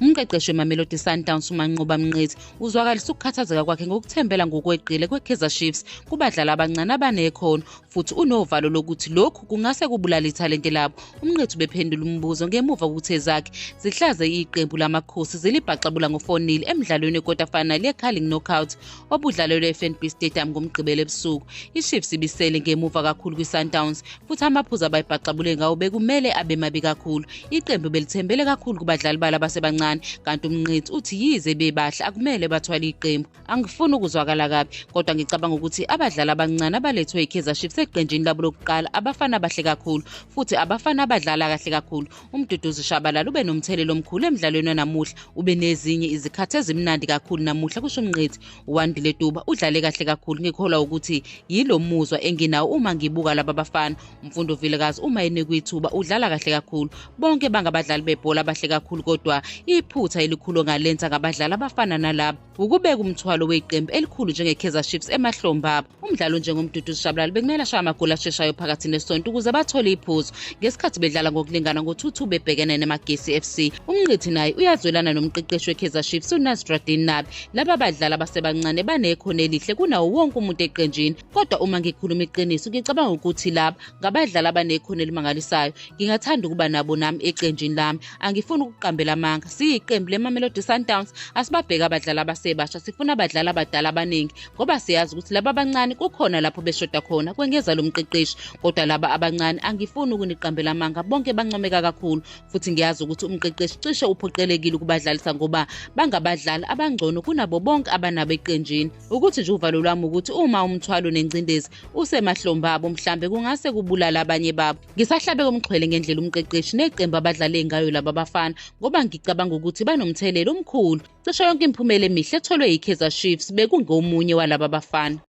Umqeqeshi weMamelodi Sundowns uManqoba Mnqithi uzwakalisa ukukhathazeka kwakhe ngokuthembela ngokweqile kweKaizer Chiefs kubadlali abancane abanekhono futhi unovalo lokuthi lokhu kungase kubulale ithalente labo. UMnqithi ubephendula umbuzo ngemuva kokuthi ezakhe zihlaze iqembu laMakhosi zilibhaxabula ngo-4-0 emdlalweni wekota final yeCarling Knockout obudlalelwe eFNB Stadium ngoMgqibelo ebusuku. IChiefs ibisele ngemuva kakhulu kwiSundowns futhi amaphuzu abayibhaxabule ngawo bekumele abe mabi kakhulu. Iqembu belithembele kakhulu kubadlali balo abasebancane kanti umnqithi uthi yize bebahle akumele bathwale iqembu. Angifuni ukuzwakala kabi kodwa ngicabanga ukuthi abadlali abancane abalethwe iKaizer Chiefs eqenjini labo lokuqala abafana abahle kakhulu futhi abafana abadlala kahle kakhulu Umduduzi Shabalala ube nomthelela omkhulu emdlalweni wanamuhla ube nezinye izikhathi ezimnandi kakhulu namuhla kusho umnqethi uwandile tuba udlale kahle kakhulu ngikholwa ukuthi yilo muzwa enginawo uma ngibuka laba bafana umfundo vilekazi uma enikwe ithuba udlala kahle kakhulu bonke bangabadlali bebhola abahle kakhulu kodwa iphutha elikhulu ngalenza ngabadlali abafana nalaba wukubeka umthwalo weqembu elikhulu njengekaizer chiefs emahlomba umdlalo onjengomduduzi shabalala bekumele ashaye amagoli asheshayo phakathi nesonto ukuze bathole iphuzu ngesikhathi bedlala ngokulingana ngo-2-2 bebhekene nemagesi fc umnqithi naye uyazwelana nomqeqeshi wekaizer chiefs unasradin nabi laba badlali abasebancane banekhono elihle kunawo wonke umuntu eqenjini kodwa uma ngikhuluma iqiniso ngicabanga ukuthi laba ngabadlali abanekhono elimangalisayo ngingathanda ukuba nabo nami eqenjini lami angifuni ukuqambela amanga siyiqembu lemamelodi sundowns asibabheke abadlali abasebasha sifuna abadlali abadala abaningi ngoba siyazi ukuthi laba abancane kukhona lapho beshoda khona kwengeza lo mqeqeshi kodwa laba abancane angifuni ukuniqambela amanga bonke bancomeka kakhulu futhi ngiyazi ukuthi umqeqeshi cishe uphoqelekile ukubadlalisa ngoba bangabadlali abangcono kunabo bonke abanabo eqenjini ukuthi nje uvalo lwami ukuthi uma umthwalo nengcindezi usemahlombe abo mhlambe kungase kubulala abanye babo ngisahlabe komxhwele ngendlela umqeqeshi neqembu abadlale ngayo laba bafana ngoba ngicabanga ukuthi banomthelela omkhulu cisho yonke imiphumela emihle etholwe yi-kaizer chiefs bekungomunye walaba bafana